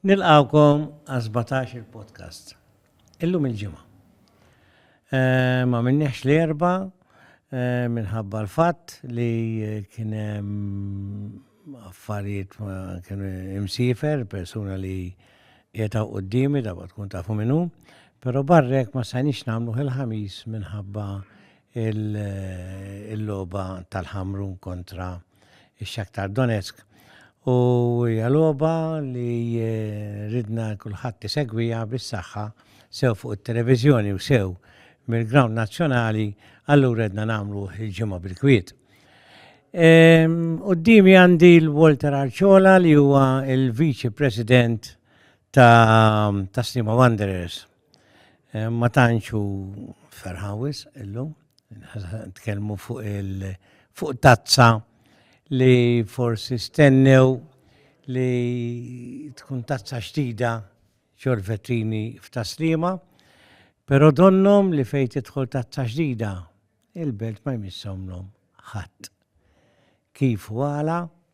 Nilqgħukom għas-sbatax-il podcast. Illum il-Ġimgħa. M'għamilniehx l-Erbgħa minħabba l-fatt li kien hemm affarijiet ma kienu imsifer, persuna li qiegħed hawn qudiemi darba tkun tafu minnu, però barrek ma stajniex nagħmluh il-Ħamis minħabba il-logħba tal-Ħamrun kontra x-Shakhtar Donetsk u hija logħba li ridna kulħadd isegwiha bis-saħħa sew fuq it-televiżjoni u sew mill-ground nazzjonali allura ridna nagħmlu il-ġimgħa bil-kwiet. Qudiemi għandi l-Walter Arciola li huwa l-Viċi President ta' Sliema Wanderers. Eh, ma tantx hu ferħan wisq illum, tkellmu fuq il fuq tazza li forsi stennew li tkun tazza xtida ċorvetini f'taslima, pero donnom li fejn tidħol tazza xdida, il-belt ma jmissomlhom ħadd. Kif u għala,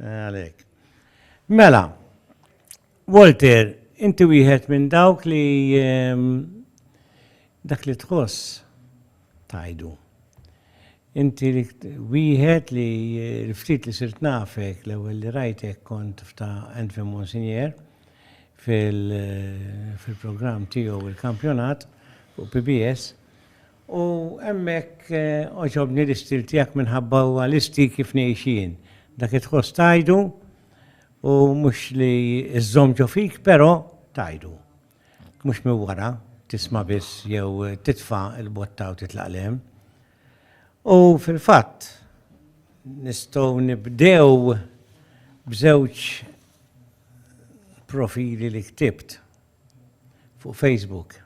Għalhekk. Mela, Walter, inti wieħed minn dawk li ehm, dak li tħoss tajdu. Inti li wieħed li l-ftit li sirt nafek l-ewwel li rajtek kont f'ta' Anthony Monsignor fil-programm tiegħu il-kampjonat fuq PBS U hemmhekk għoġobni l-istil tiegħek minħabba huwa l-istil kif ngħix jien. Dak li tħoss tgħidu u mhux li żżomm ġo fik però tgħidu. Mhux minn wara, tisma' biss jew titfa' l-botta u titlaq 'l hemm. U fil-fatt nistgħu nibdew b'żewġ profili li ktibt. fuq Facebook.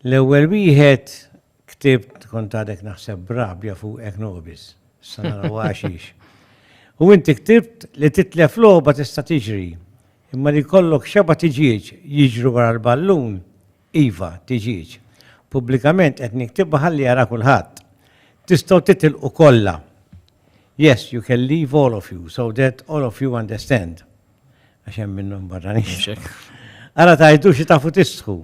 L-ewwel wieħed ktibt kont għadek naħseb b'rabja fuqek nobis, sa naraw għaxix. U inti ktibt li titlef logħba tista' tiġri, imma li jkollok xeba tiġieġ jiġru wara l-ballun, iva, tiġieġ. Pubblikament qed niktibha ħalli jara kulħadd. Tistgħu titilqu kollha. Yes, you can leave all of you, so that all of you understand. Għax hemm minnhom barranin. Ara tajdu xi tafu tistħu,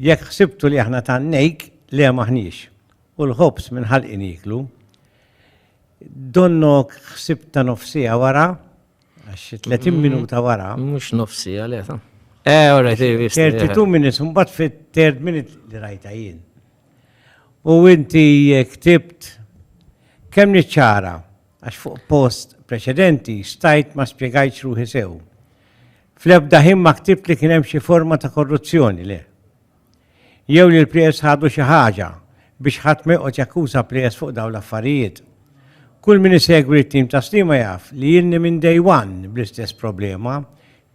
jekk ħsibtu li aħna tannejk le maħniex. U l-ħobs minn ħalqin jiklu. Donnok ħsib ta' nofsija wara, għax 30 mm. minuta wara. Mux nofsija le ta' Eh, ora, ti visti. 32 minutes, un bat fit third minute li rajta jien. U inti ktibt kemm niċċara għax fuq post preċedenti stajt ma spjegajtx ruħi sew. Fl-ebda ħin ma ktibt li kien hemm xi forma ta' korruzzjoni, le. Jew li l-plejers ħadu xi ħaġa biex ħadd ma joqgħod jakkuża plejers fuq dawn l-affarijiet. Kull min isegwi t-tim ta' Sliema jaf li ilni minn day one bl-istess problema,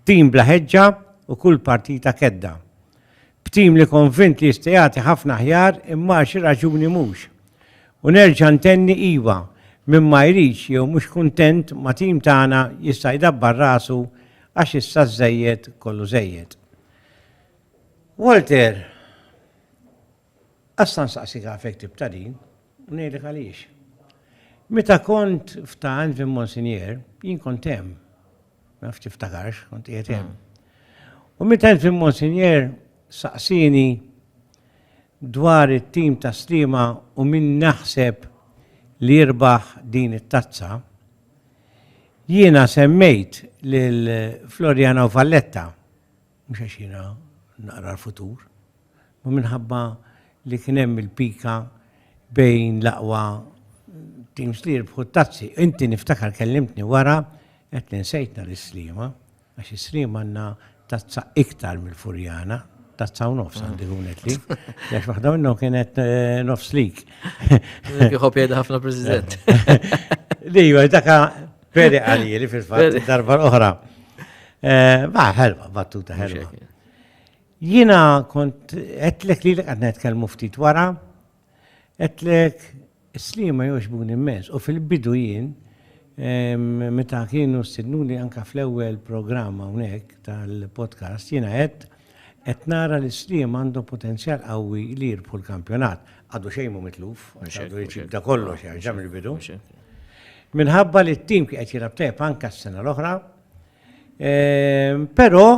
tim bla ħeġġa u kull partita kedda. B'tim li konvint li jista' jagħti ħafna aħjar imma għal xi raġuni mhux. U nerġa' ntenni iva, min ma jridx jew mhux kuntent ma' tim tagħna jista' jdabbar rasu għax issa żżejjed kollu żejjed. Walter, Assa nsaqsik għalfejn ktibtha din. U ngħidlek għaliex. Meta kont f'Tann fi Monsinjera, jien kont hemm. Ma nafx tiftakarx, kont qiegħed hemm. U meta kont fi Monsinjera saqsieni dwar it-tim ta' Sliema u min naħseb li jirbaħ din it-tazza, jiena semmejt lil Floriano Valletta. mhux għax jiena naqra l-futur, imma minħabba li kien hemm il-pika bejn l-aqwa teams li jirbħu t-tazzi. Inti niftakar kellimtni wara qed li nsejtna l-Islima, għax is-Slima għandna tazza iktar mill-Furjana, tazza u nofs għandi kunet li, għax waħda minnhom kienet eh, nofs lik. Kieħob jgħid ħafna President. Li, daka Veri għaliri fil-fat, darba l-oħra. Eh, ma, ħelwa, battuta ħelwa. Jina kont, etlek li l-għad netkelmu ftit wara, etlek slima jox bun immens, u fil-bidu jien, meta kienu s-sidnuni anka fl-ewel programma unek tal-podcast, jina għed, Qed nara li Sliema għandhom potenzjal qawwi li jirbħu l-kampjonat. Għadu xejn mhu mitluf, għax għadu jġib da kollox jerġa' mill-bidu. Minħabba li t-tim kien qed jilgħab tajjeb anke s-sena l-oħra. Ehm, però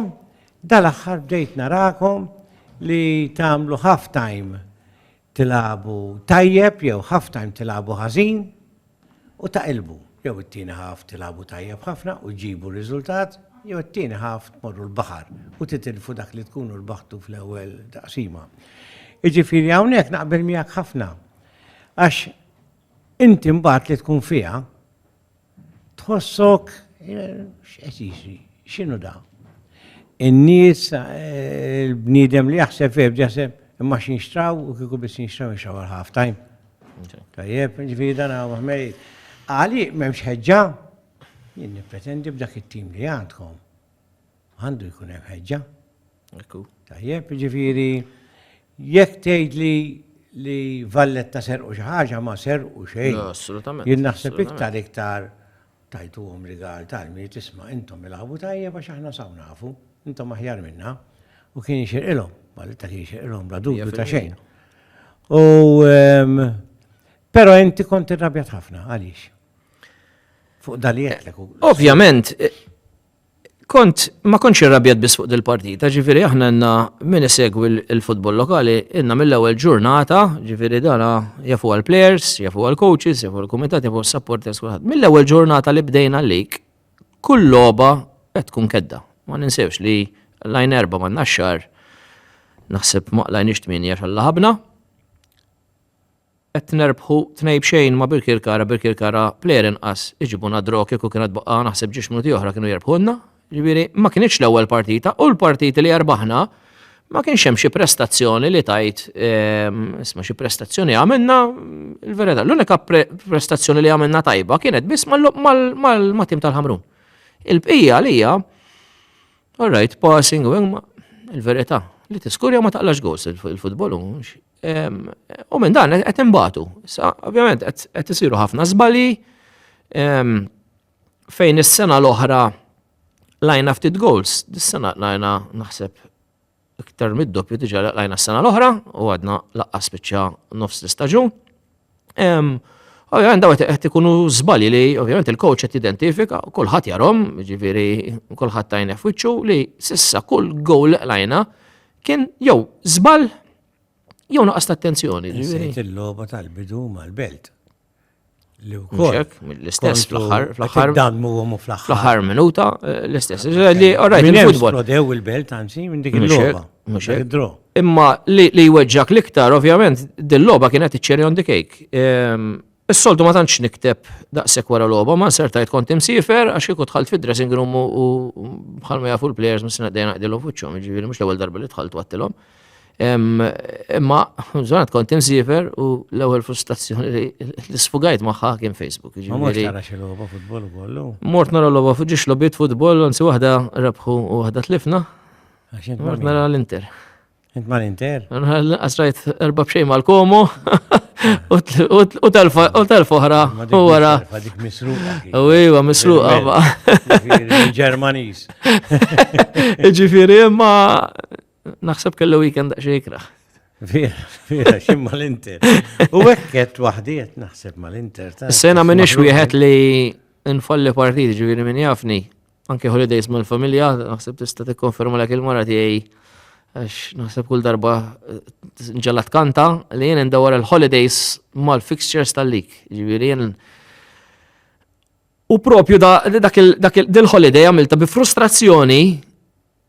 dal-aħħar bdejt narakom li tagħmlu half time tilagħbu tajjeb jew half time tilagħbu ħażin u taqilbu. Jew it-tieni half tilagħbu tajjeb ħafna u ġġibu r-riżultat, jew it-tieni half tmorru l-baħar u titilfu dak li tkunu rbaħtu fl-ewwel taqsima. Jiġifieri hawnhekk naqbel miegħek ħafna. Għax inti mbagħad li tkun fiha Tħossok x'qed jiġri? X'inhu da? In-nies il-bniedem li jaħseb fih b'jaħseb imma xi nxtraw u kieku biss nxtraw nxtraw għal half time. Tajjeb, ġifieri dan hawn ħmeri. Għali m'hemmx ħeġġa? Jien nippretendi b'dak it-tim li għandkom. Għandu jkun hemm ħeġġa. Ekku. Tajjeb, ġifieri jekk tgħid li li Valletta serqu xi ħaġa ma serqu xejn. Assolutament. Jien naħseb iktar iktar tajtuhom rigal tal-mi tisma' intom ilagħbu tajjeb għax aħna saw nafu, intom aħjar minna u kien jixirqilhom, Valletta kien jixirqilhom bla dubju ta' xejn. U ehm, però inti kont irrabjat ħafna għaliex fuq dalijetlek. Ovvjament, Kont, ma kontx irrabjat biss fuq dil-partita, ġifiri aħna għanna min isegwi l-futbol lokali, għanna mill-ewel ġurnata, ġifiri dana jafu għal-players, jafu għal-coaches, jafu għal-komitat, jafu għal-supporters, kullħat. Mill-ewel ġurnata li bdejna l-lik, kull loba qed tkun kedda. Ma ninsewx li lajn erba ma naxxar, naħseb ma lajn ixtmini għax għalla ħabna. Qed nerbħu tnej b'xejn ma' Birkirkara, Birkirkara plejer inqas iġibuna draw kieku kienet baqgħa naħseb ġiex minuti oħra kienu jerbħulna. Ġifieri ma kinitx l-ewwel partita u l-partiti li erbaħna ma kienx hemm xi prestazzjoni li tajt ehm, isma' xi prestazzjoni għamilna l-verità. L-unika prestazzjoni li għamilna tajba kienet biss mal-tim tal-Ħamrun. Il-bqija li hija all right passing u il-verità li tiskurja ma taqlax gols il-futbol U minn dan qed imbatu. Ovvjament qed isiru ħafna żbali fejn is-sena l-oħra lajna ftit goals, dis-sena lajna naħseb iktar mid-doppju diġà lajna s-sena l-oħra u għadna laqqa spiċċa nofs l-istaġun. Ovvijament daw qed ikunu żbali li ovvijament il-coach qed identifika, kulħadd jarhom, ġifieri kulħadd tajna f'wiċċu li sissa kull gowl lajna kien jew żbal jew naqas attenzjoni. Ġifieri il-logħba tal-bidu mal-belt. Li wkoll. L-istess fl-aħħar fl-aħħar. Dammu u fl-aħħar. Fl-aħħar minuta eh, l-istess. Li orajt il-futbol. Prodew il-belt anzi minn dik il-logħba. Mhux hekk. Draw. Imma li li jweġġak l-iktar, ovvjament, dil-logħba kienet iċ-cherry on the cake. Ehm, Is-soltu ma tantx nikteb daqshekk wara logħba, ma nsertajt kont imsiefer għax kieku dħalt fid-dressing room u u bħal ma jafu l-players mis sena dejna qdilhom fuċċhom, jiġifieri mhux l-ewwel darba li dħalt wattilhom. Ehm, Imma żgħat kont imsiefer u l-ewwel frustrazzjoni li li sfugajt magħha kien Facebook. Ma mhux jiġifieri- tara xi logħba futbol ukoll. Mort nara l-loba fuġiex lobit futbol, anzi waħda rebħu u waħda tlifna. Mort nara l-Inter. Int ma l-Inter? Għasrajt erba bxej ma l-komu u tal-foħra u għara. Dik misruqa. U iwa misruqa ma. Ġermanis. Ġifiri ma naħseb kellu weekend xejkra. Vera, vera, xim ma l-Inter. U għekket wahdiet naħseb ma l-Inter. Sena minix wieħed li nfalli partiti ġifiri minn jafni. anke holidays mal-familja, naħseb tista' tikkonferma lek il-mara tiegħi għax naħseb kull darba eh, ġalla tkanta li jien indawar il-holidays mal-fixtures tal-lik. Ġifieri jien U propju dak il-holiday għamilta bi frustrazzjoni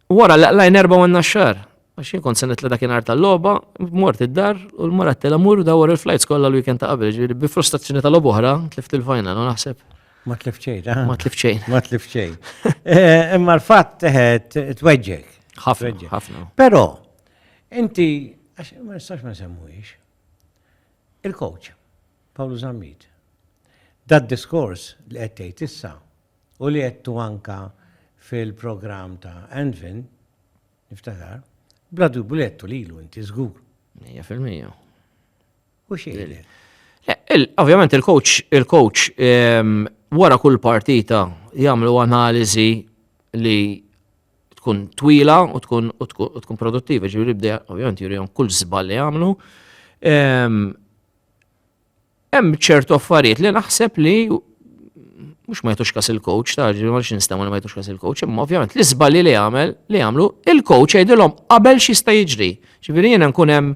Wara li qlajn erba' u naxxar, għax jien kont se nitla' dakinhar tal-logħba, mort id-dar u l-mara tela mur dawar il-flajts kollha l-weekend ta' qabel, ġifieri bi frustrazzjoni tal oħra tlift il-final u naħseb. Ma tlift xejn, eh? Ma tlift xejn. Ma tlift xejn. Eh, imma l-fatt teħed eh, tweġġek. Ħafna, ħafna. Però, inti, għax ma nistax ma semmuhiex, il-coach, Pawlu Zammit, dad diskors li qed tgħid issa, u li għedtu anke fil-programm ta' Anfin, niftakar, bla dubju li għedtu lilu inti żgur. Mija fil-mija. U xejn. Ovvjament il-coach, il-coach ehm, wara kull partita jagħmlu analiżi li tkun twila u tkun u tkun produttiva, ġifieri bdej ovvjament jurihom kull żball li jagħmlu. Ehm, Hemm ċertu affarijiet li naħseb li mhux ma jtux kas il-coach, ta' ma rix nistgħu li ma jtux kas il-coach, imma ovvjament li żbalji li għamel li għamlu il-coach jgħidilhom qabel x'jista' jiġri. Ġifieri jiena nkun hemm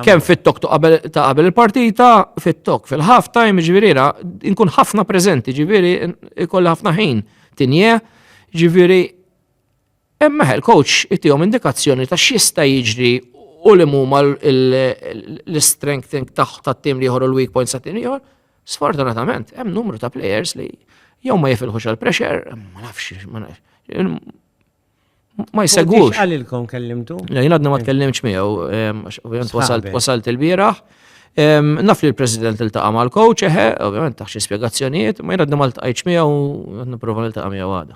kemm fit-tok ta' qabel il-partita, fit-tok fil-half time, ġifieri nkun ħafna preżenti, ġifieri ikollha ħafna ħin tinje, ġifieri Imma l-coach itihom indikazzjoni ta' x'jista' jiġri u li huma l-strength tat-tim li jħorru l-weak points tat-tim li jħor. Sfortunatament, hemm numru ta' players li jew ma jifilħux għal pressure, ma nafx, ma nafx. Ma jsegwux. Għalilkom kellimtu? Le, jien għadna ma tkellimx miegħu, ovvjament wasalt il-bieraħ. Naf li l-President il-taqa mal-coach, eħe, ovvjament taħx spiegazzjonijiet, ma jien għadna ma l-tqajċ miegħu, għadna prova l-taqa miegħu għada.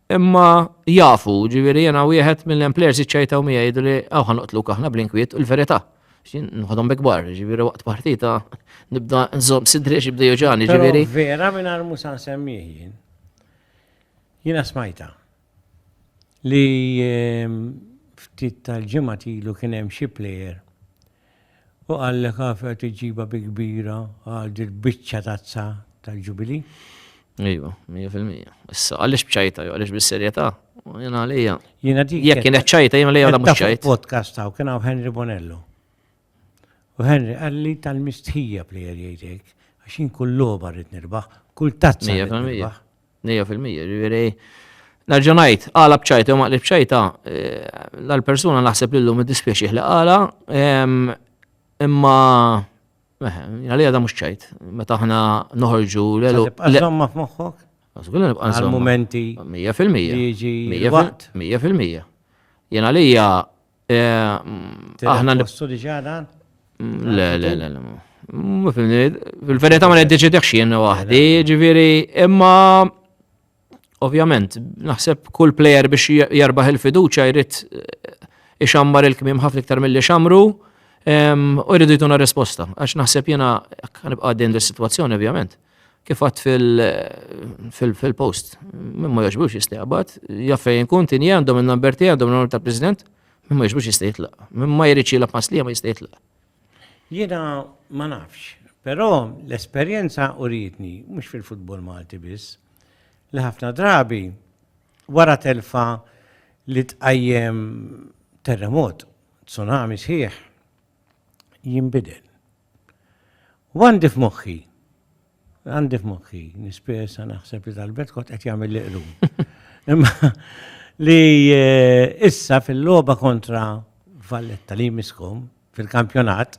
Imma jafu, ġifieri jiena wieħed mill-employers iċċajtaw miegħi jgħidu li hawn ħanoqtluk aħna blinkwiet u l-verità. Nħodhom bi kbar, ġifieri waqt partita nibda nżomm sidri xi bda joġani, ġifieri. Vera minn armu san semmih jien. Jiena smajta li ehm, ftit tal-ġimgħat ilu kien hemm xi plejer U qallek għafi qed iġġibha bi kbira għal dil-biċċa tazza tal-Ġubilì? Iva, mija fil-mija. Issa, għalix bċajta, jo, għalix bis-serjeta? Jena għalija. Jena dik. Jek kienet ċajta, jena għalija la mux ċajta. Podcast taw, kien għaw Henry Bonello. U Henry għalli tal-mistħija plejer jgħidek, għaxin kull loba rrit nirbaħ, kull tazza. Mija fil-mija. Nejja fil-mija, ġiviri. Nerġa' ngħid, għala bċajta jew maqli bċajta, l-persuna eh, naħseb li llum iddispjaċih li għala, imma eh, għalija da mhux ċajt, meta aħna noħorġu l-elu. Għażomma f'moħħok? Għażgulna nibqa' nżomm. Għal-momenti. Mija fil-mija. Mija fil-mija. Jien għalija Eh, aħna nippostu diġa dan? Mm, le, le, le, le. Mm, Fil-verita ma neddeċidek xien waħdi, ġiviri, imma ovvjament, naħseb kull player biex jarbaħ il-fiduċa jrid eh, ixammar il-kmim ħafna iktar mill-li xamru, u jridu jtuna risposta. Għax naħseb jena, għanibqa din l-situazzjoni, ovvjament. Kif għadt fil-post, minn ma jogħġbux jista' jaqbad, jaf fejn inkun tinji għandhom in-number tiegħi għandhom l-number tal-President, minn ma jogħġbux jista' jitlaq. Minn ma jridx jilgħab ma' Sliema jista' jitlaq. Jiena ma nafx, però l-esperjenza urietni, mhux fil-futbol Malti biss, li ħafna drabi wara telfa li tqajjem terremot, tsunami sħiħ, jinbidel. U għandi f'moħħi, għandi f'moħħi, nispesa naħseb li tal-bet kont qed jagħmel li qlum. Imma li eh, issa fil-logħba kontra Valletta li jmiskom fil-kampjonat,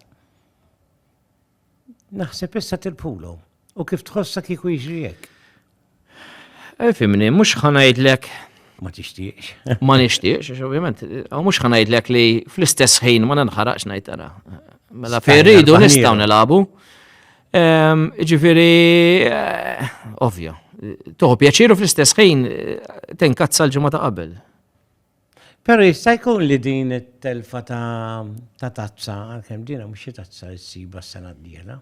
naħseb issa tilpulhom. U kif tħossha kieku jiġri hekk? Fimni, mhux ħanajdlek ma tixtieqx. Ma nixtieqx, għax ovvjament, mhux ħanajdlek li fl-istess ħin ma ninħaraqx ngħid tara. Mela ferridu nistgħu nilagħbu. Ehm, ġifieri, eh, ovvja, toħu pjaċiru fl-istess ħin eh, tinkazza l-ġimgħa ta' qabel. Però jista' jkun li din it-telfa ta' tazza, għalkemm dina mhux xi tazza li ssiba s-sena d-dieħla.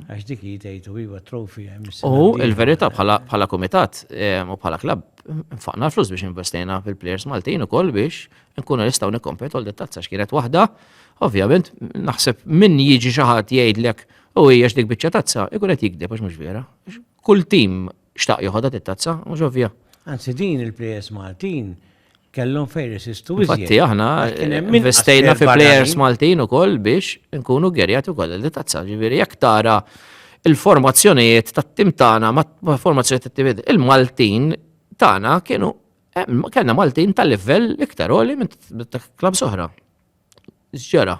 Għax dik hi tgħid u iva trofi hemm is-sena. U l-verità bħala kumitat u bħala klabb nfaqna l-flus biex investejna fil-plejers Maltin ukoll biex nkunu nistgħu nikkompetu għal din tazza x'kienet waħda. Ovvjament naħseb min jiġi xi ħadd jgħidlek u hija x'dik biċċa tazza, ikun qed jigdeb għax mhux vera. Kull tim Xtaq joħodha tit-tazza u ġo via. Anzi din il-plejers Maltin kellhom fejn resistu iżjed. Fatti aħna investejna fi plejers Maltin ukoll biex nkunu gerjat ukoll li tazza ġifieri jekk tara il-formazzjonijiet tat-tim tagħna ma' formazzjonijiet tat-tim il-Maltin tagħna kienu kellna Maltin tal-livell iktar għoli minn klab soħra. Ġġera.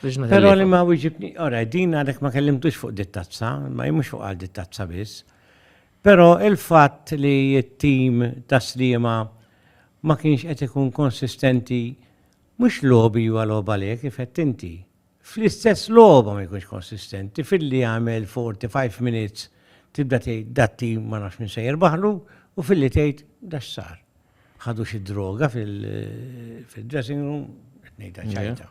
Pero li ma wieġibni, ora, din għadek ma kellimtux fuq dittazza, ma jimux fuq għal dittazza biss. Pero il-fatt li t-tim ta' slima ma kienx qed ikun konsistenti mhux lobi huwa loba le kif qed inti. Fl-istess loba ma jkunx konsistenti filli għamel 45 minutes tibda tgħid dat-tim ma nafx minn se jirbaħlu u filli tgħid dax sar. ħadu xi droga fil-dressing room, qed ngħidha ċajta.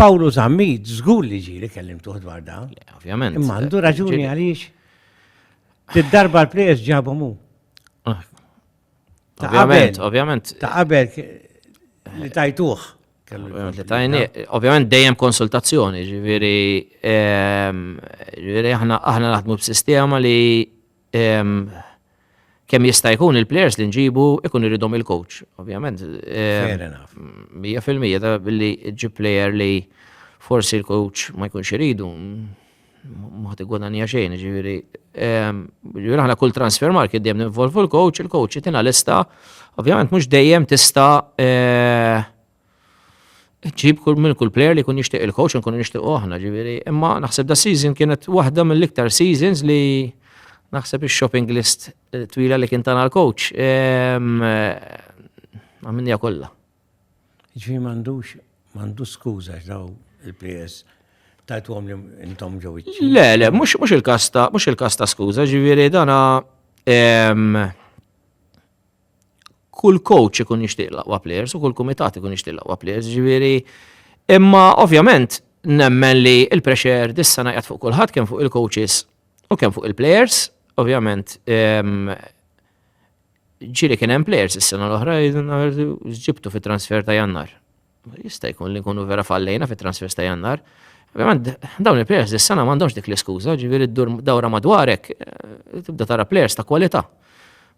Pawlu Zammit, żgur li ġieli kellim tuħ dwar da. Ovvjament. Imma għandu raġuni għaliex. Tid-darba l-plejers ġabu mu. Ah. Ovvjament, ovvjament. Ta' qabel li tajtuħ. Ovvjament dejjem konsultazzjoni, ġifieri ehm, ġifieri aħna aħna naħdmu b'sistema li ehm, kemm jista' jkun il-players li nġibu ikun iridhom il-coach, ovvjament. Ehm, mija fil-mija ta' billi ġib player li forsi l-coach ma jkunx iridu. ma ħadd igwadanja xejn, ġifieri. Ehm, ġifieri aħna kull transfer market dejjem ninvolvu l-coach, il-coach jitina lista, ovvjament mhux dejjem tista' eh, ġib kull minn kull player li kun jixtieq il-coach nkun nixtieq aħna, ġifieri. Imma naħseb da season kienet waħda mill-iktar seasons li naħseb ix-shopping list eh, twila li kien tana l-coach. Ehm, eh, Għamminja kollha. Jiġifieri m'għandux, m'għandu skuża għax daw il-players tajtuhom li intom ġew iċ Le, le, mhux mhux il-każ ta' mhux il-każ ta' skuża, ġifieri dana ehm, kull coach ikun jixtieq laqwa players u kull kumitat ikun jixtieq laqwa players, ġifieri imma ovvjament nemmen li il-pressure dissa najqat fuq kulħadd kemm fuq il-coaches u kemm fuq il-players, ovvjament ehm, Ġiri kien hemm players is-sena l-oħra ġibtu fit-transfer ta' Jannar. Jista' jkun li nkunu vera fallejna fit-transfers ta' Jannar. Ovvjament, dawn il-players dis-sena m'għandhomx dik l-iskuża, ġifieri ddur dawra madwarek, eh, tibda tara players ta' kwalità.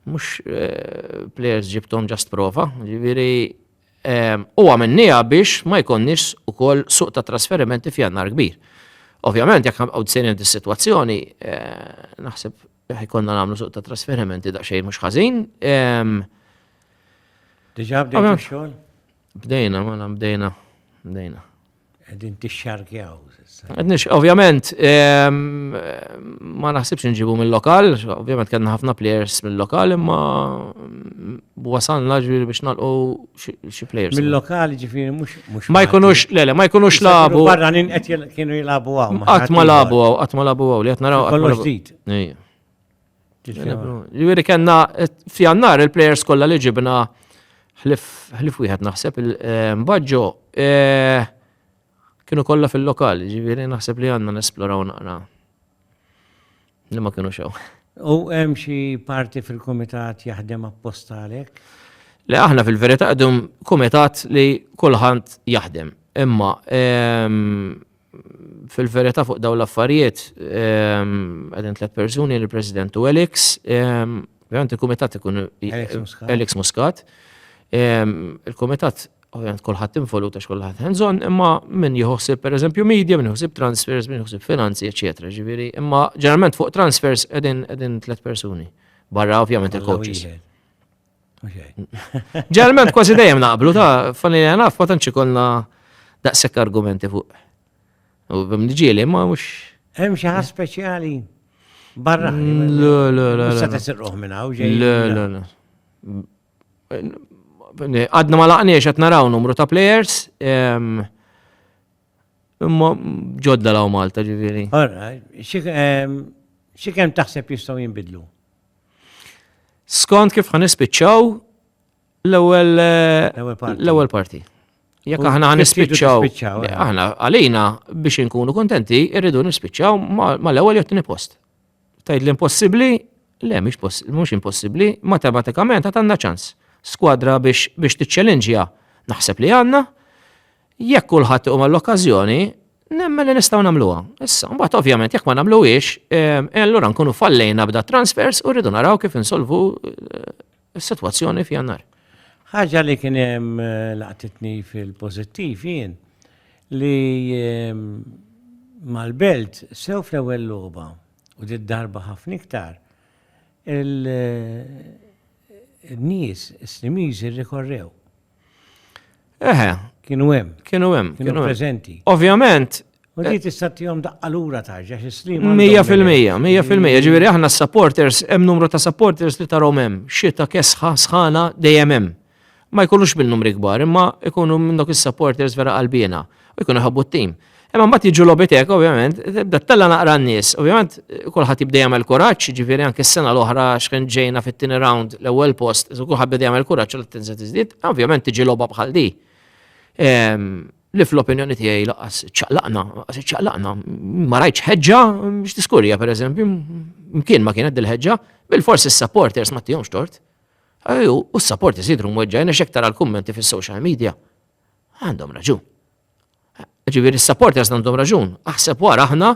Mhux eh, players ġibtom ġast prova, ġifieri eh, u għamennija biex ma jkonniex ukoll suq ta' trasferimenti f'jannar kbir. Ovvjament, jekk għaw d-sinin dis-situazzjoni, naħseb Eħ, konna nagħmlu suq ta' trasferimenti daqsxejn mhux ħażin. Diġà bdejna xogħol? Bdejna, mela bdejna, bdejna. Qegħdin tixxarkjaw. Qedniex, ovvjament, ma naħsibx nġibu mill-lokal, ovvjament kellna ħafna players mill-lokal, imma wasalna ġviri biex nalqu xi players. Mill-lokali ġifiri mux. Ma jkunux, le, le, ma jkunux labu. Barra nin qed kienu jilabu għaw. Qatt ma labu għaw, qatt ma labu għaw, li qed naraw. Kollox ġdid. Ġviri kena fjannar il-players kollha li ġibna ħlif wieħed naħseb il-baġġo eh, eh, kienu kollha fil-lokali, ġviri naħseb li għandna nesploraw naqra. Li ma kienu xew. U hemm xi parti fil-kumitat jaħdem apposta għalhekk? Le aħna fil-verità qdum kumitat li kulħadd jaħdem. Imma ehm, fil-verità fuq dawn l-affarijiet ehm, qegħdin tliet persuni l-President u Elix, ehm, ovvjament il-kumitat ikun Elix Muscat. Elix Muscat. Ehm, il-kumitat ovvjament kulħadd involut għax kulħadd hands on, imma min jħossib per eżempju media, min jħossib transfers, min jħossib finanzi, eċetera. Ġifieri, imma ġeneralment fuq transfers qegħdin qegħdin tliet persuni. Barra ovvjament il-coaches. Ġeneralment kważi dejjem naqblu ta' fanni naf ma tantx ikollna daqshekk argumenti fuq. U bimniġieli ma mhux. Hemm xi ħadd speċjali barra. Mm, l-l-l. Sa tesirruħ minn hawn ġej. l Għadna ma laqniex qed naraw numru ta' players. Ehm, imma ġodda law Malta ġifieri. Ehm, xi kemm taħseb jistgħu jinbidlu? Skont kif ħan nispiċċaw l-ewwel l-ewwel parti. Jekk aħna ħan nispiċċaw, eh. aħna għalina biex inkunu kontenti irridu nispiċċaw mal-ewwel jew post. Tgħidli impossibbli? Le, mhux impossibbli, matematikament għad għandna ċans. Skwadra biex biex tiċċelinġja naħseb li għandna, jekk kulħadd iqum għall-okkażjoni, nemmen li nistgħu nagħmluha. Issa, mbagħad ovvjament jekk ma nagħmluhiex, eh, allura nkunu fallejna b'da transfers u rridu naraw kif insolvu eh, is-sitwazzjoni f'Jannar. Ħaġa li kien hemm laqtitni fil-pożittiv jien li mal-Belt sew fl-ewwel logħba u dit darba ħafna iktar il-nies Slimiżi rrikorrew Eħe. Kienu hemm. Kienu hemm. Kienu preżenti. Ovvjament. U di eh, tista' tihom daqqa lura tarġa xi stream. Mija fil-mija, mija fil-mija. Ġifieri aħna supporters hemm numru ta' supporters li tarhom hemm. Xita kesħa sħana dejjem hemm. Ma jkunux bil-numri kbar, imma jkunu minn dok is-supporters vera qalbina. U jkunu ħabbu t-tim. Imma mbagħad jiġu lobiteka ovvjament, tibda tella naqra n-nies. Ovvjament kulħadd jibda jagħmel kuraġġ, ġifieri anke s-sena l-oħra x'kien ġejna fit-tieni round l-ewwel post, kulħadd beda jagħmel kuraġġ li tinżel tiżdied, ovvjament tiġi logħba bħal di. Ehm, li fl-opinjoni tiegħi laqas ċaqlaqna, laqas ċaqlaqna, ma rajtx ħeġġa biex tiskurja pereżempju, mkien ma kienet dil-ħeġġa, bil-forsi s-supporters ma tihomx tort. Ejju, u s-supporters jidru mweġġajna xektar għal kummenti fis-social media. Għandhom raġun. Ġifieri s-supporters għandhom raġun. Aħseb wara aħna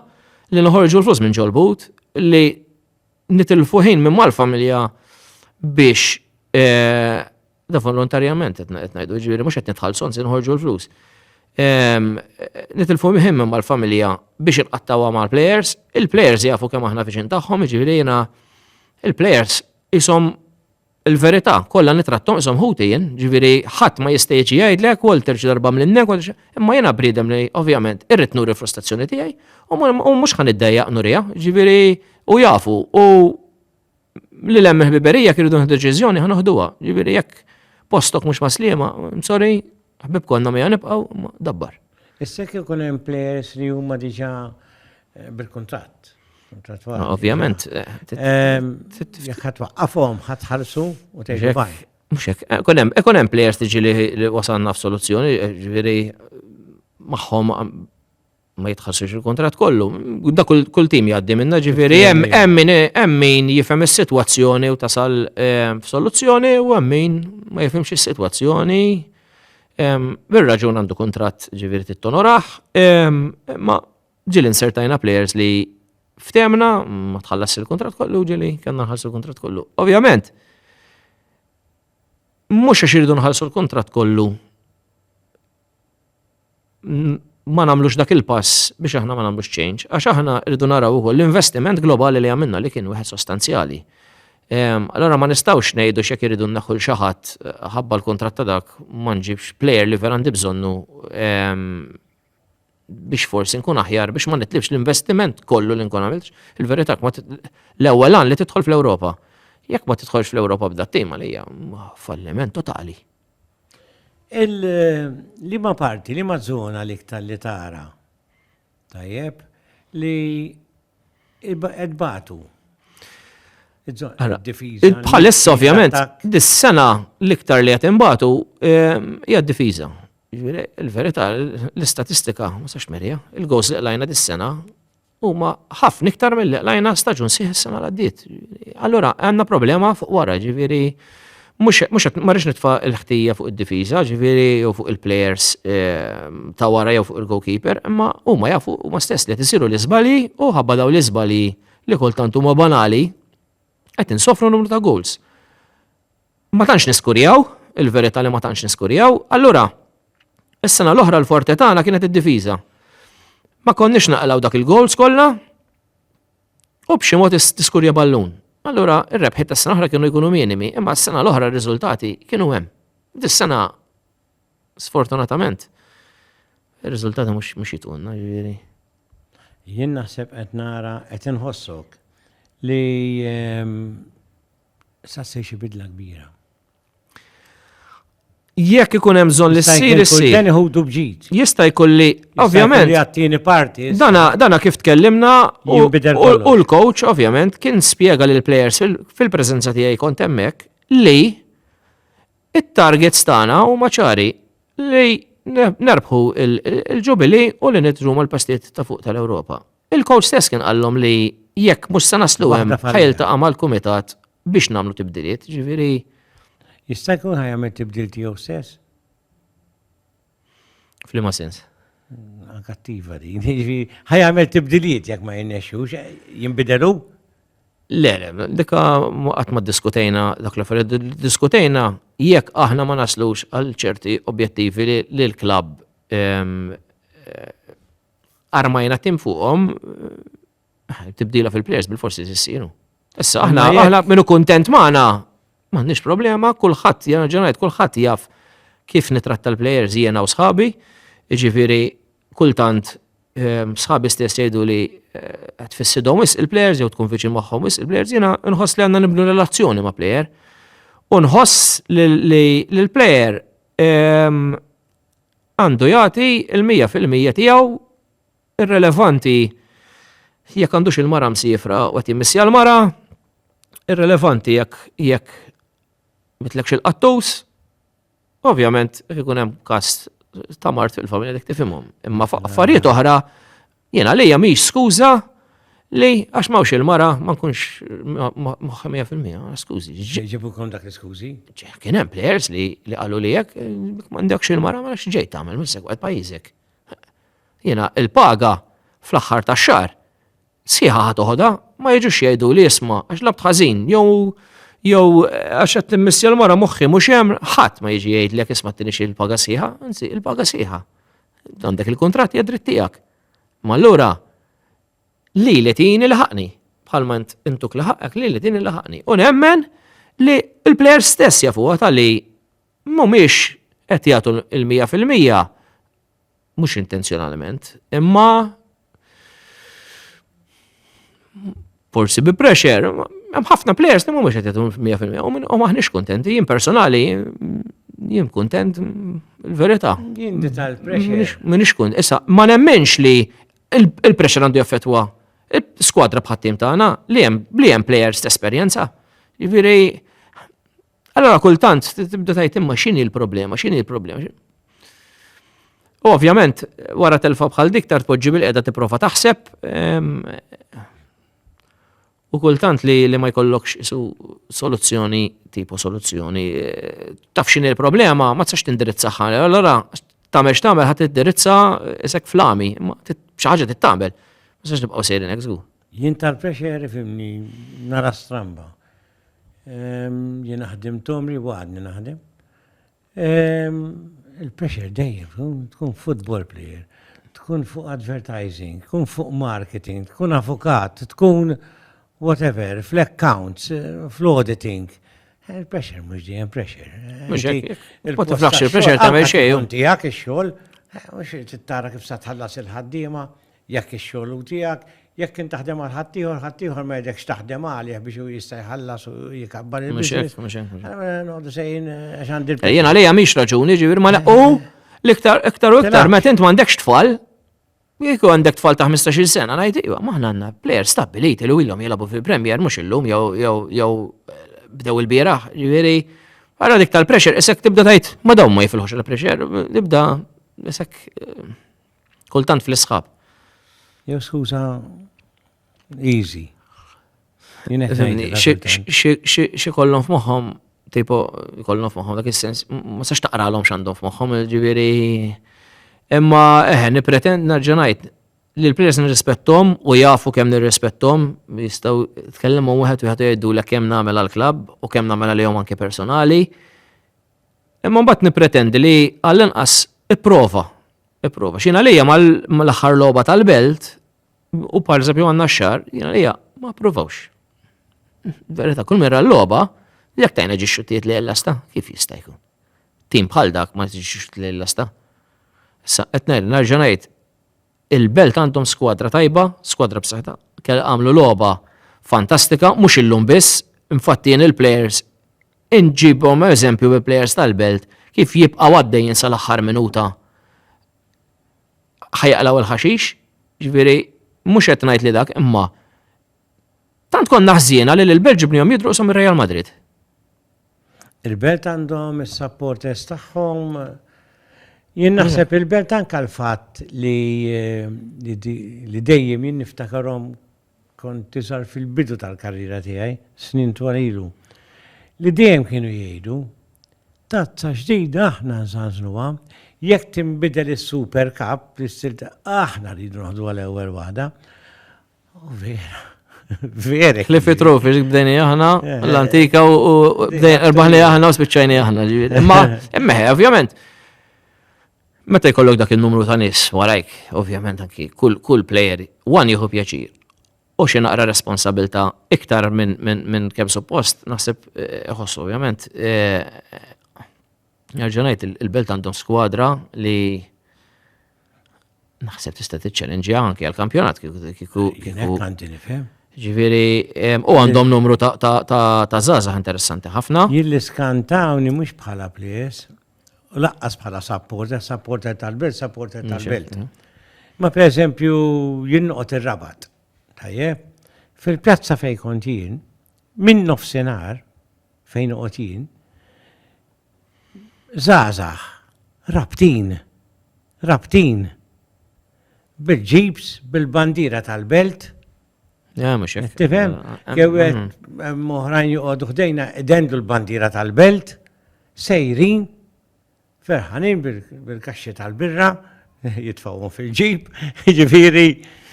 li noħorġu l-flus minn ġol-but li nitilfu ħin minn mal-familja biex eh, da volontarjament qed ngħidu, ġifieri mhux qed nitħallsu anzi nħorġu l-flus. Ehm, nitilfu ħin minn mal-familja biex inqattawha mal-players, il-players jafu kemm aħna viċin tagħhom, ġifieri jiena il-players isom Il-verità kollha nitrat tonqshom ħuti jien, ġifieri ħadd ma jista' jiġi jgħidlek Walter xi darba mlinnek u imma jiena bniedem li ovvjament irrid nuri l-frustrazzjoni tiegħi u mhux ħa niddejjaq nuriha, ġifieri u jafu u li hemm ħbiberija kienu nieħdu deċiżjoni ħa noħduha, ġifieri jekk postok mhux maslima, sorry, ħbib konna mija nibqgħu dabbar. Issa kif ikun hemm players li huma diġà Eh, bil-kuntratt. Ah, ovvjament. Jekk ħat waqqafhom ħat ħarsu u tgħidu baj. Mhux hekk. Eh, kun hemm eh, players tiġi li wasalna f'soluzzjoni, ġifieri magħhom ma jitħassux il-kontrat kollu. Da kull tim jgħaddi minna ġifiri, hemm min jifhem is-sitwazzjoni u tasal eh, f'soluzzjoni u hemm min ma jifhimx is-sitwazzjoni. Bir-raġun għandu kontrat ġifiri tittonoraħ, ma Ġili insertajna players li ftemna ma tħallas il-kontrat kollu ġili kellna nħallsu l-kontrat kollu. Ovvjament, mhux għax irridu nħallsu l-kontrat kollu ma nagħmlux dak il-pass biex aħna ma nagħmlux change, għax aħna rridu naraw ukoll l-investiment globali li għamilna li kien wieħed sostanzjali. Ehm, allora ma nistawx nejdu xek iridu naħħu xaħat eh, ħabba l-kontrat ta' dak ma nġibx player li vera għandi bżonnu ehm, biex forsi nkun aħjar biex ma nitlifx l-investiment kollu li nkun għamilx. Il-verità l-ewwel għan li tidħol fl-Ewropa. Jekk ma tidħolx fl-Ewropa b'da tim għalija falliment totali. Li ma parti, li ma zona li iktar li tara. Tajjeb, li Qed bagħtu. Bħalissa ovvjament, dis-sena l-iktar li qed inbagħtu ehm, hija d-difiża. Jiġifieri, il-verità, l-istatistika, ma sax merja, il-gows li qlajna dis-sena huma ħafna iktar mill-li qlajna staġun sieħ is-sena l-għaddiet. Allura, għandna problema fuq wara, ġifieri Mhux mhux ma rridx nitfa' l-ħtija fuq id-difiża, ġifieri jew fuq il-plejers ehm, ta' wara jew fuq il-goalkeeper, imma huma jafu huma stess li qed isiru l-iżbalji u ħabba daw l-iżbalji li kultant huma banali qed insofru numru ta' goals. Ma tantx niskurjaw, il-verità li ma tantx niskurjaw, allura is-sena l-oħra l-forte tagħna kienet id-difiża. Ma konniex naqlaw dak il-goals kollha, U b'xi mod tiskurja ballun. Allura, ir-rebħiet tas-sena oħra kienu jkunu minimi, imma s-sena l-oħra r-riżultati kienu hemm. Dis-sena, sfortunatament, ir-riżultati mhux jitqunna, ġifieri. Jien naħseb qed nara qed inħossok li ehm, sa se xi bidla kbira. Jekk ikun hemm bżonn li ssir issir. Dan iħudu bġid. Jista' jkun li ovvjament. Għattini parti. Dana, dana kif tkellimna u l-coach ovvjament kien spjega lil players fil-preżenza tiegħi kont hemmhekk li it-targets tagħna huma ċari li nerbħu il-ġubili u li nidru mal-pastiet ta' fuq tal-Ewropa. Il-coach stess kien qallhom li jekk mhux se naslu hemm ħajl ta' mal-kumitat Biex nagħmlu tibdiliet, ġifieri. Jista' jkun ħajamel tibdil tiegħu stess? F'liema sens? Kattiva din, jiġifieri ħajamel tibdiliet jekk ma jinnexxux, jinbidelu? Le, le, dika qatt ma diskutejna dak l-affarijiet, diskutejna jekk aħna ma naslux għal ċerti objettivi li l-klabb ehm, eh, armajna tim fuqhom Tibdila fil-plejers bil-forsi issir. Issa aħna aħna minnu kuntent magħna m'għandniex problema, kulħadd ġenerajt kulħadd jaf kif nitratta l-plejers jiena u sħabi, jiġifieri kultant ehm, sħabi stess jgħidu li eh, tfissidhom wis il-plejers jew tkun viċin magħhom wis il-plejers jiena nħoss li għandna nibnu relazzjoni ma' plejer. U nħoss li l-plejer ehm, għandu jagħti il-100% tiegħu Irrelevanti jekk għandux il-mara msifra u qed jimmissja l-mara, irrelevanti jekk jekk mitlekx il-qattus, ovvjament ikun hemm każ ta' mart fil-familja dik tifhimhom. Imma affarijiet oħra jiena lejja mhix skuża li għax mawx il-mara ma nkunx moħħa 100%, skużi. Ġibu kon dak l-skużi? Kien hemm players li qalu li jekk m'għandekx il-mara ma nafx ġej tagħmel minn segwet pajjiżek. Jiena il-paga fl-aħħar tax-xahar sħiħa ħa toħodha, ma jiġux jgħiduli isma' għax labt ħażin jew jew għax qed timmissja l-mara moħħi mhux hemm ħadd ma jiġi jgħidlek isma' tinix il-paga sħiħa, anzi il-paga sħiħa. Għandek il-kuntratt hija dritt tiegħek. Ma allura li li tini laħaqni bħalma intuk laħaqek li li tini laħaqni. U nemmen li l-plejer stess jafuha tal-li mhumiex qed jagħtu l-mija fil-mija, mhux intenzjonalment, imma forsi bi pressure, hemm ħafna players li mhumiex qed jagħtu mija fil-mija u maħniex kuntenti, jien personali jien kuntent il-verità. Jien tal-pressure. Minix kun, issa ma nemmenx li il-pressure għandu jaffetwa skwadra bħat-tim tagħna li hemm li hemm players t-esperjenza. Jiġifieri Allora kultant tibda tajt imma x'inhi l-problema, x'inhi l-problema. U ovvjament wara telfa bħal dik tar tpoġġi bil-qiegħda tipprova taħseb ehm, u kultant li, li ma jkollokx isu soluzzjoni, tipo soluzzjoni, eh, taf x'inhi l-problema, ma tsax tindirizza ħana. Allora tagħmel x'tagħmel ħadd tiddirizza isek flami, ma xi ħaġa tittamel. Ma tsax nibqgħu sejrin hekk żgur. Jien tal-pressure fimni nara stramba. Jiena ħdimt għomri u għadni naħdem. Il-pressure dejjem, tkun football player, tkun fuq advertising, tkun fuq marketing, tkun avukat, tkun whatever, fl-accounts, fl-auditing. Il-pressure mhux dejjem pressure. Mhux hekk. Il-pressure tagħmel xejn. Tijak ix-xogħol, mhux tittara kif sa tħallas il-ħaddiema, Jekk ix-xogħol hu tiegħek, jekk int taħdem għal ħaddieħor, ħaddieħor ma jridekx taħdem għalih biex hu jista' jħallas u jkabbar il-business. Mhux hekk, mhux hekk. Mela, noqogħdu sejjin eh, għax għandi l-pjan. Jiena għalija mhix raġuni, ġifier ma u l-iktar iktar u iktar meta int m'għandekx tfal, Jek għandek tfal ta' 15 sena, najt, iwa, maħna għanna player stabiliti li illum jilabu fil-Premier, mux illum, jew bdew il-biraħ, ġiviri, għara dik tal-pressure, isek tibda tajt, ma daw ma jifilħux il-pressure, tibda, isek, eh, Kultant fl-isħab. Jew skuża easy. Xi kollhom f'moħħom, tipo kollhom f'moħħom dak is-sens, ma sax taqralhom x'għandhom f'moħħom, ġifieri. Imma eħe nipretend nerġa' ngħid li l-players nirrispettom u jafu kemm nirrispettom, jistgħu tkellmu wieħed wieħed jgħidu l kemm nagħmel għall-klabb u kemm nagħmel għalihom anke personali. Imma mbagħad nippretendi li għall-inqas ipprova. Ipprova. X'jien għalija mal-aħħar logħba tal-belt u par eżempju għandna x-xar, jien għalija ma provawx. Verita, kull mera l-logħba, jekk tajna ġi xuttijiet li l-lasta, kif jista' jkun? Tim bħal dak ma ġi xuttijiet li l-lasta. Issa qed ngħid, nerġa' ngħid, Il-Belt għandhom skwadra tajba, skwadra b'saħħitha, kell għamlu logħba fantastika, mhux illum biss, infatti jien il-plejers inġibhom eżempju bi plejers tal-Belt kif jibqgħu għaddejjin sal-aħħar minuta ħajaqlaw il-ħaxix, ġifieri mhux qed ngħid li dak imma tant konna ħżiena li l-Belġu bnihom jidruqshom ir-Real Madrid. Il-Belt għandhom is-supporters tagħhom. Jien naħseb il-Belt anke l-fatt li li dejjem jien niftakarhom kont tiżar fil-bidu tal-karriera tiegħi, snin twal ilu, li dejjem kienu jgħidu, Tazza ġdida aħna nżanżnuha, jekk tinbidel is-Super Cup, aħna rridu noħduha l-ewwel waħda. Vera. Vera. Li fitru fi bdejni aħna, eh, eh. l-antika u bdejni aħna u spiċċajni aħna. Imma, imma, ovvjament. Meta jkollok dak il-numru ta' nis warajk, ovvjament anki, kull player, one jieħu pjaċir. U xi naqra responsabilta iktar minn min, min kemm suppost, naħseb eh, ħossu ovvjament. Nerġa' ngħid il-Belt għandhom skwadra li naħseb tista' tiċċellenġi anke għall-kampjonat kieku. Għandi nifhem. Ġifieri, u għandhom numru ta' żgħażagħ interessanti ħafna. Jien skantawni mhux bħala ples, u laqqas bħala supporter, supporter tal-belt, supporter tal-belt. Ma per eżempju jinqot ir-rabat. Tajjeb, fil-pjazza fej kont jien, minn nofsinhar, fejn noqgħod jien, żgħażagħ rabtin, rabtin, bil-ġibs, bil-bandiera tal-belt. Tifhem? Jew oħrajn joqogħdu ħdejna idendu l-bandiera tal-belt, sejrin, Ferħanin bil-kaxxi tal-birra, jitfawhom fil-ġib, ġifieri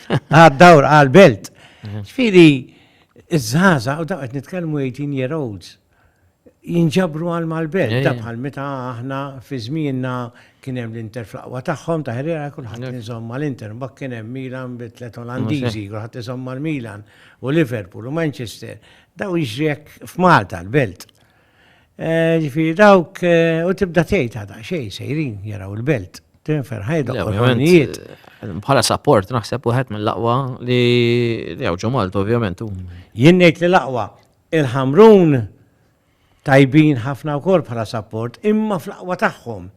għad-dawr għal-belt. Mhm. Ġifieri iż-żaza u dawk qed nitkellmu 18 year olds jinġabru għal mal-belt, eh. da bħal meta aħna fi żmienna kien hemm l-Inter fl-aqwa tagħhom ta' ħriera kulħadd eh. iżomm mal-Inter, mbagħad kien hemm Milan bi tliet Olandiżi, kulħadd iżomm mal-Milan u Liverpool u Manchester. Daw jiġri hekk f'Malta l-belt. Eh, ġifiri dawk, eh, u tibda tgħid għada xej sejrin jaraw il-belt, tinfer ħajda l-ħornijiet. Eh, bħala support naħseb wieħed mill-aqwa li jgħu Malta ovvjament. Jien ngħid li l-aqwa il-ħamrun tajbin ħafna wkoll bħala support imma fl-aqwa tagħhom.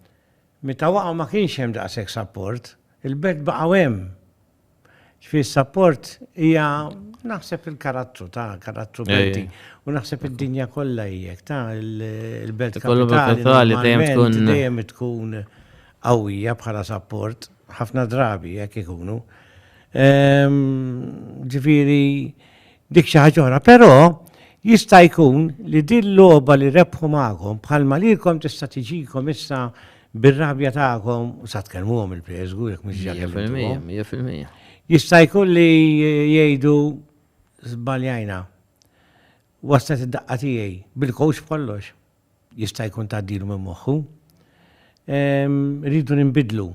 Meta waqgħu ma kienx hemm daqshekk support, il-belt baqgħu hemm. Ġifieri s-sapport hija naħseb il-karattru ta' karattru Malti u naħseb id-dinja kollha hijek ta' il-belt kapitali dejjem tkun qawwija bħala sapport ħafna drabi jekk ikunu. Ehm, ġifieri Dik xi ħaġa oħra, però jista' jkun li din logħba li rebħu magħkom bħalma lilkom tista' tiġikom issa bir-rabja tagħkom u sa tkellmuhom il-preżgu jekk mhux ġakellmuhom. Jista' jkun li jgħidu żbaljajna. Waslet id-daqqa tiegħi bil-kowx b'kollox. jista' jkun tgħaddilu minn moħħu. Irridu ninbidlu,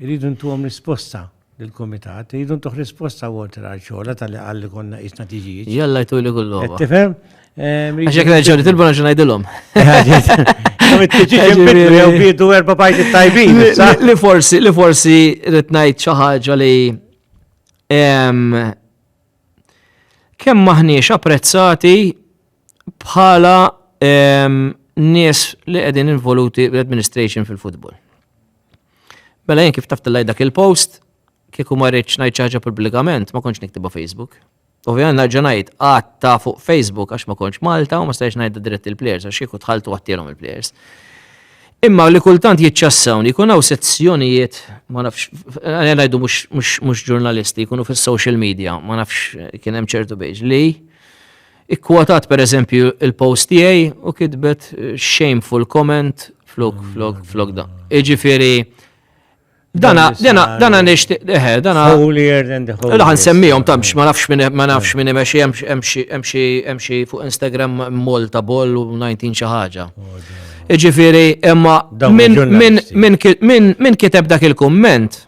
irridu ntuhom risposta lill-kumitat, irridu ntuh risposta Walter għal xogħla tal-li qal li konna qisna tiġijiet. Jalla jtuli kullhom. Qed tifhem? Għax jekk nerġgħu nitilbu nerġgħu ngħidilhom. Jew biedu erba' pajti tajbin. Li forsi, li forsi rrid ngħid xi ħaġa li kemm maħniex apprezzati bħala ehm, nies li qegħdin involuti l-administration fil-futbol. Mela jien kif taf tillaj dak il-post, kieku ma rridx ngħid ħaġa pubblikament, ma kontx niktiba Facebook. Ovvijament nerġa' ngħid għatta fuq Facebook għax ma kontx Malta u ma stajx ngħid dirett il-players għax kieku tħaltu għattilhom il-players. Imma li kultant jitċassawn, jkun hawn sezzjonijiet, ma nafx, ngħidu mhux ġurnalisti, jkunu fis-social media, ma nafx kien hemm ċertu biex li Ikkwotat per eżempju il-post tiegħi u kitbet shameful comment flok flok flok da. Iġifieri dana dana dana nixtieq eħe eh, dana holier than the holier. Laħan semmihom tamx ma nafx minn ma nafx minn imexxi hemm xi hemm xi fuq Instagram Malta Ball u 19 xi ħaġa. Iġifieri imma minn kiteb dak il-kumment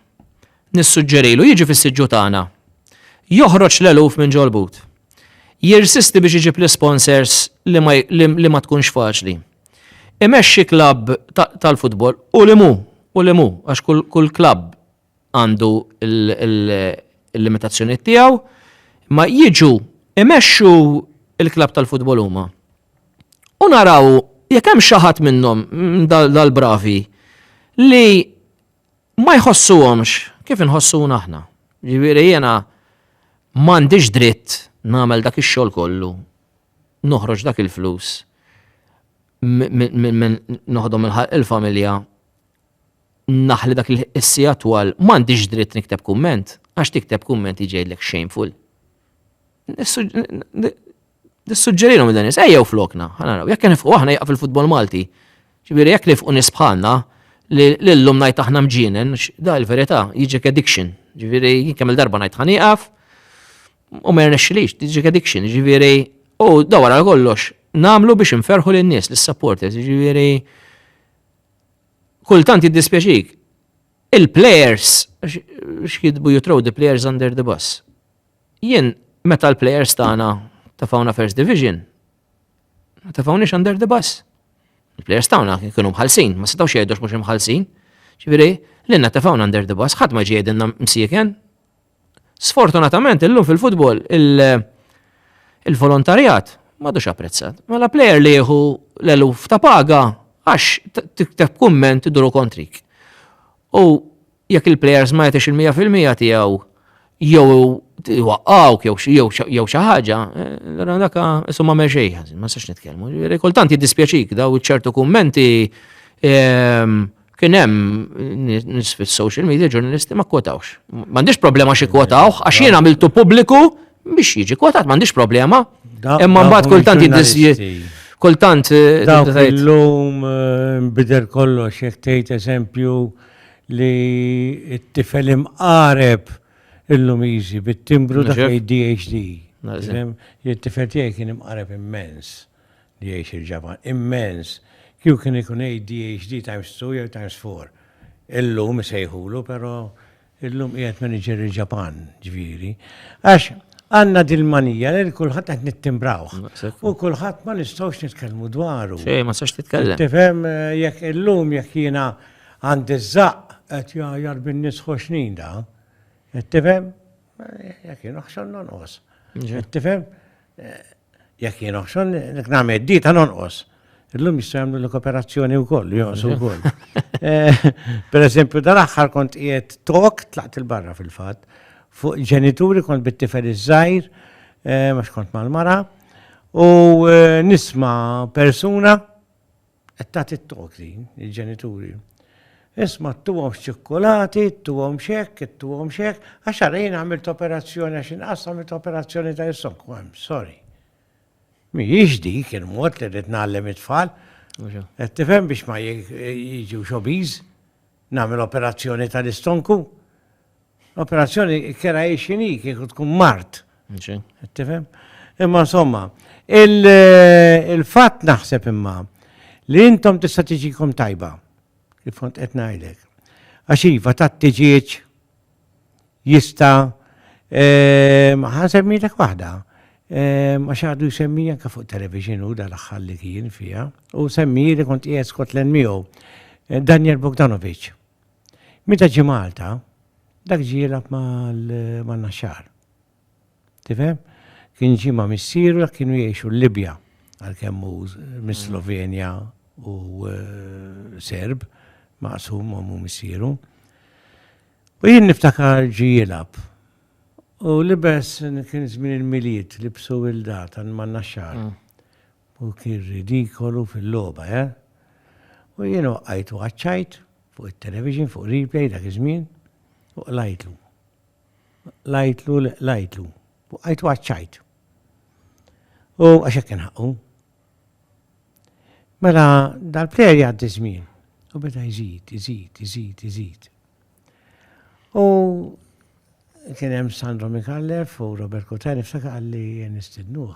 Nissuġġerilu jiġi fis-siġġu tagħna. Joħroġ l-eluf minn ġol-but. Jirsisti biex iġib l-isponsors li ma tkunx faċli. Imexxi klabb tal-futbol u li mhu, u li mhu, għax kull klabb għandu l-limitazzjonijiet tiegħu, imma jiġu imexxu l-klabb tal-futbol huma. U naraw jekk hemm xi ħadd minnhom, minn dal-bravi, li ma jħossuhomx kif inħossuna aħna. Jiġifieri jiena m'għandix dritt nagħmel dak ix-xogħol kollu, noħroġ dak il-flus, noħodhom il-familja, naħli dak il-sija twal, m'għandix dritt nikteb kumment, għax tikteb kumment jġejdlek shameful. Nissuġġerilhom dan is, ejjew flokna, ħanaraw, jekk nifqu aħna jaqaf il-futbol Malti. Ġifieri jekk nifqu nies bħalna, li llum ngħid aħna mġienen, da il-verità, jiġek addiction. Ġifieri jien kemm il-darba ngħid ħan jaqaf, u ma jirnexxilix, jiġek addiction. Ġifieri, u da wara kollox, nagħmlu biex inferħu lin-nies, lis-supporters, ġifieri kultant jiddispjaċik. Il-players, x'jidbu you throw the players under the bus. Jien meta l-plejers tagħna tefgħuna First Division, ma tefgħuniex under the bus. Il-plejers tagħna kienu mħallsin, ma setgħux jgħidux mhux imħallsin. Ġifieri, l-inna tefgħuna under the bus, ħadd ma ġie jgħidilna msieken. Sfortunatament illum fil-futbol il-volontarjat m'għadux apprezzat. Mela plejer li jieħu l-eluf ta' paga għax tikteb kumment iduru kontrik. U Jekk il-plejers ma jagħtix il-mija fil-mija tiegħu jew iwaqqgħuk jew xi ħaġa, allura eh, daka isu ma xejn ħażin, ma sax nitkellmu. Kultant jiddispjaċik daw ċertu kummenti ehm, kien hemm nis fis-social media ġurnalisti ma kwotawx. M'għandix problema xi kwotawh għax jien għamiltu pubbliku biex jiġi kwotat m'għandix problema. Imma mbagħad kultant jiddispjaċi kultant. Eh, Dawk illum eh, bidel kollox jekk tgħid eżempju li t-tifel imqareb il-Lumiżi bit-timbru dak li DHD. It-tifel tiegħi kien imqareb immens li jgħix il-Ġapan. Immens. Kieku kien ikun ADHD times two jew times four. Illum isejħulu, però illum qiegħed manager il-Ġapan, ġifieri. Għax għandna dil-manija li kulħadd qed nittimbrawh. U kulħadd ma nistgħux nitkellmu dwaru. Xejn, ma sax titkellem. Tifhem, jekk illum jekk jiena Għand iż-żaqq qed jgħajjar bin-nies ħoxnin da. Qed tifhem? Jekk jien oħxon nonqos. Qed tifhem? Jekk jien oħxon nek nagħmel dita nonqos. Illum jista' jagħmlu l-kooperazzjoni wkoll, jonqsu wkoll. Eh, per eżempju, dal-aħħar kont qiegħed tok tlaqt il-barra fil-fatt fuq ġenituri kont bit-tifel iż-żgħir, eh, mhux kont mal-mara, u eh, nisma' persuna Qed tagħti t-tok din, il-ġenituri. Isma' ttuhom x'ċikkulati, ttuhom x'hekk, ttuhom x'hekk, għax ara jien għamilt operazzjoni għax inqas għamilt operazzjoni ta' jissok. Għam, sorry. Mhijiex dik il-mod li rrid nagħllem it-tfal. Qed tifhem biex ma jiġu xobiż nagħmel operazzjoni tal-istonku. Operazzjoni kera jiexini kieku tkun mart. Tifhem? Imma insomma, il-fatt naħseb imma li intom tista' tiġikom tajba. Kif kont qed ngħidlek. Għax iva ta' tiġieġ jista' ehm, ħansemmilek waħda. Ehm, għax għadu jsemmi anke fuq television u dal-axħal li kien fija. U semmi li kont qiegħed Scotland miegħu. Eh, Daniel Bogdanovic. Meta ġi Malta, dak ġi jilgħab mal-Naxxar. Tifhem? Kien ġi ma' missieru dak kienu jgħixu l-Libja għalkemm hu mis-Slovenja u eh, Serb maqsum u missieru. U jien niftakar ġi jilgħab. U libes kien żmien il-miliet libsu wilda tan man naxxar. Mm. U kien ridikolu fil-logħba, eh? U jiena waqajt u għaċċajt fuq it-television, fuq Replay dak iż-żmien, u qlajtlu. Qlajtlu li qlajtlu. Waqajt u għaċċajt. U għax hekk kien ħaqqu. Mela dal-plejer jgħaddi żmien u beda jżid, jżid, jżid, jżid. U kien hemm Sandro Mikallef u Robert Kutani f'saka għalli nistidnuh.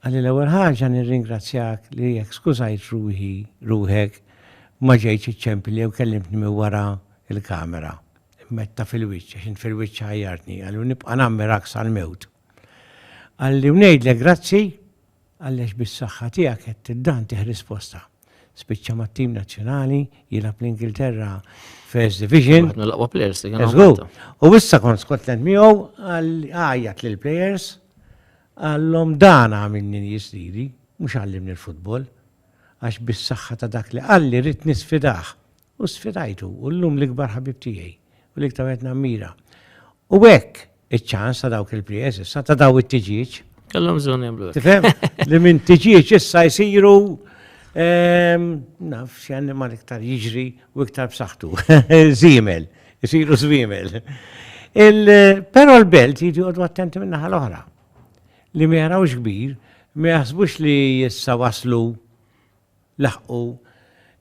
Għalli l-ewwel ħaġa nirringrazzjak li jekk skużajt ruħi, ruħek, ma ġejtx iċċempilli jew kellimtni minn wara l-kamera. Metta fil-wiċċ, għax int fil-wiċċ ħajjartni, għalli u nibqa' nammirak sal-mewt. Għalli u ngħidlek grazzi, għalli għax bis-saħħa tiegħek qed tiddan tieħ risposta. Spiċċa mat-tim nazzjonali, jilgħab l-Ingilterra First Division. Waħed mill-aqwa players li kien Żgur. U issa kont Scotland miegħu għal għajjat lil players għallhom dan għamilni jisdiri, mhux għallimni l-futbol. Għax bis-saħħa ta' dak li qalli rrid nisfidah. U sfidajtu, u llum l-ikbar ħabib tiegħi, u l-iktar wieħed nammira. U hekk iċ-ċans ta' dawk il-prijez issa, ta' daw it-tiġieġ. Kellhom bżonn jagħmlu. Tifhem? Li minn tiġieġ issa jsiru ehm, naf xi annimal iktar jiġri u iktar b'saħħtu. Żiemel, isiru żwiemel. Però l-belt jiġi għodu attenti minn naħa l-oħra. Li ma jarawx kbir, ma jaħsbux li issa waslu laħqu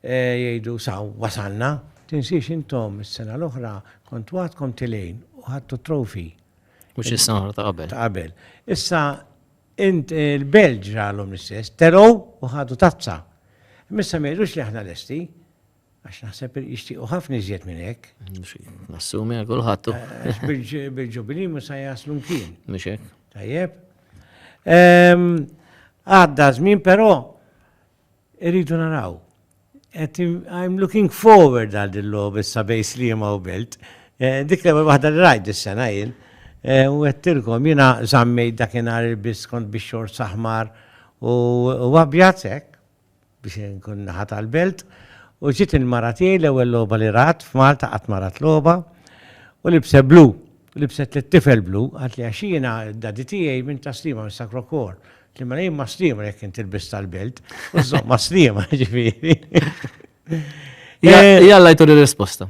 jgħidu saw wasalna. Tinsiex intom is-sena l-oħra kontu għadkom tilgħin u ħadtu t-trophy. Mhux is-sena l-oħra ta' qabel. Ta' qabel. Issa int il-Belġ ġralhom l-istess, telgħu u ħadu tazza. Missa ma jgħidux li aħna lesti. Għax naħseb jixtiequ ħafna iżjed minn hekk. Nassumi għal kulħadd. Eh, bil-ġubilin ma sa jaslu mkien. Mhux hekk. Tajjeb. Ehm, għadda żmien però irridu naraw. I'm looking forward għal din lob issa bej slima u belt. Eh, dik l-ewwel waħda li rajt is-sena jien. Eh, u għettilkom jiena żammej dakinhar il-biskont biex xor saħmar u abjad hekk. biex inkun naħa tal-belt, u ġiet il-mara tiegħi l-ewwel logħba li rat f'Malta qatt ma rat logħba, u libset blu, libset lit-tifel blu, qaltli għax jiena d-daddy tiegħi minn ta' Sliema minn Sacro Cor. Qtli mela jien ma' Sliema jekk int tilbis tal-belt, u żżomm ma' Sliema, ġifieri. Jalla jtur ir-risposta.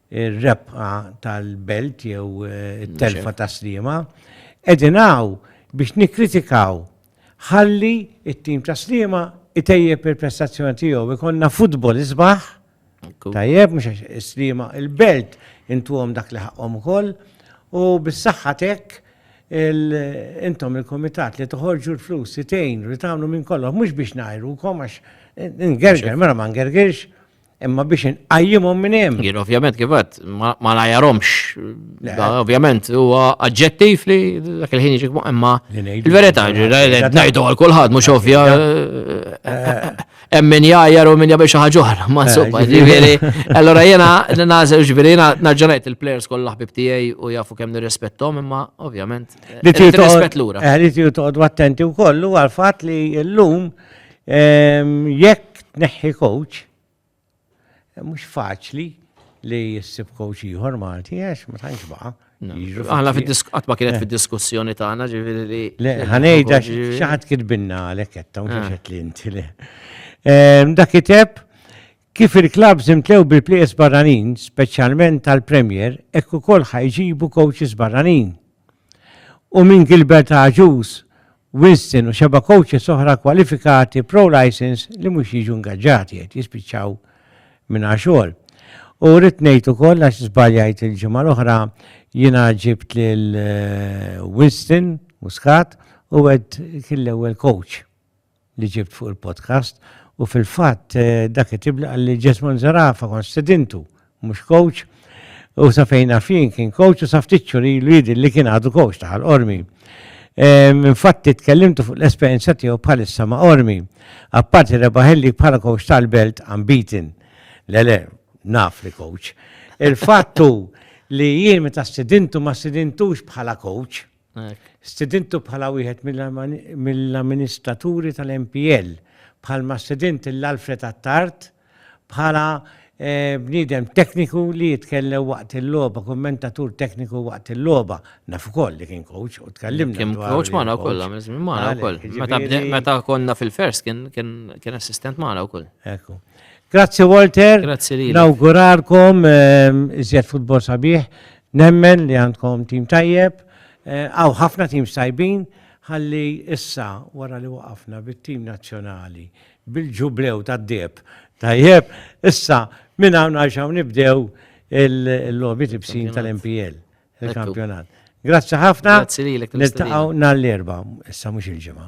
ir-rebħa tal-belt jew it-telfa ta' Sliema, qegħdin hawn biex nikkritikaw ħalli t-tim ta' Sliema itejjeb il-prestazzjoni tiegħu, ikollna futbol isbaħ, tajjeb, mhux għax is-Sliema, il-belt intuhom dak li ħaqqhom ukoll, u bis-saħħa t'hekk intom il-kumitat li toħorġu l-flus li tgħinu li tagħmlu minn kollox mhux biex ngħajrukom għax ingerger, mela ma ngergirx, Imma biex inqajjimhom minn hemm. Jien ovvjament kif għad ma najarhomx. Ovvjament huwa aġġettiv li dak il-ħin jiġi imma il-verità ngħidu għal kulħadd mhux ovvja hemm min jgħajjar u min jagħmel xi ħaġa oħra ma insomma ġifieri. Allora jiena nażel ġifieri jiena narġa' ngħid il-players kollha ħbib tiegħi u jafu kemm nirrispettom imma ovvjament. Li trid lura. Li trid toqgħod attenti wkoll huwa l-fatt li llum Jekk tneħħi coach, mhux faċli li jissib coach ieħor Malti għax ma tantx baqa'. Aħna qatt ma kienet fid-diskussjoni tagħna ġifieri li. Le, ħanejda xi ħadd kitbinna għalhekk qed tawn xaxet li inti le. Dak iteb kif il-klabb żimtlew bil-plejers barranin, speċjalment tal-Premier, hekk ukoll ħajġibu coaches barranin. u minn Gilbert Agius, Winston u xeba' coaches oħra kwalifikati pro-licence li mhux jiġu ingaġġati qed jispiċċaw mingħajr xogħol. U rrid ngħid ukoll għax żbaljajt il-ġimgħa l-oħra jiena ġibt lil Winston Muscat u għedt kien l-ewwel coach. li ġibt fuq il-podcast u fil-fatt dak it-tib li qalli Jesmond Zarafa kon sedintu, mhux coach, u sa fejn fin kien coach u sa ftit li jidil li kien għadu coach taħal ormi. Infatti tkellimtu fuq l-esperjenza tiegħu bħalissa ma' ormi. Apparti rebaħelli bħala coach tal-belt unbeaten. Lele, naf li coach. Il-fattu li jien meta sidintu ma sidintux bħala coach, Stidintu bħala wieħed mill-amministraturi tal-MPL, bħalma stidint lil Alfred Attard bħala bniedem tekniku li jitkellem waqt il-logħba, kummentatur tekniku waqt il-logħba. Naf ukoll li kien coach u tkellimna. Kien coach magħna wkoll, magħna wkoll. Jiġifieri- meta konna fil-fers kien assistent magħna wkoll. Ekku. Grazzi Walter. Grazzi lilek. Nawguralkom ehm, iżjed futbol sabiħ. Nemmen li għandkom tim tajjeb, hawn ħafna teams tajbin, ħalli issa wara li waqafna bit-tim nazzjonali bil-Ġublew tad-Deheb, tajjeb, issa minn hawn għal x'hawn nibdew il-logħbiet ibsin tal-MPL, il-kampjonat. Grazzi ħafna, niltaqgħu nhar l-Erbgħa, issa mhux il-Ġimgħa.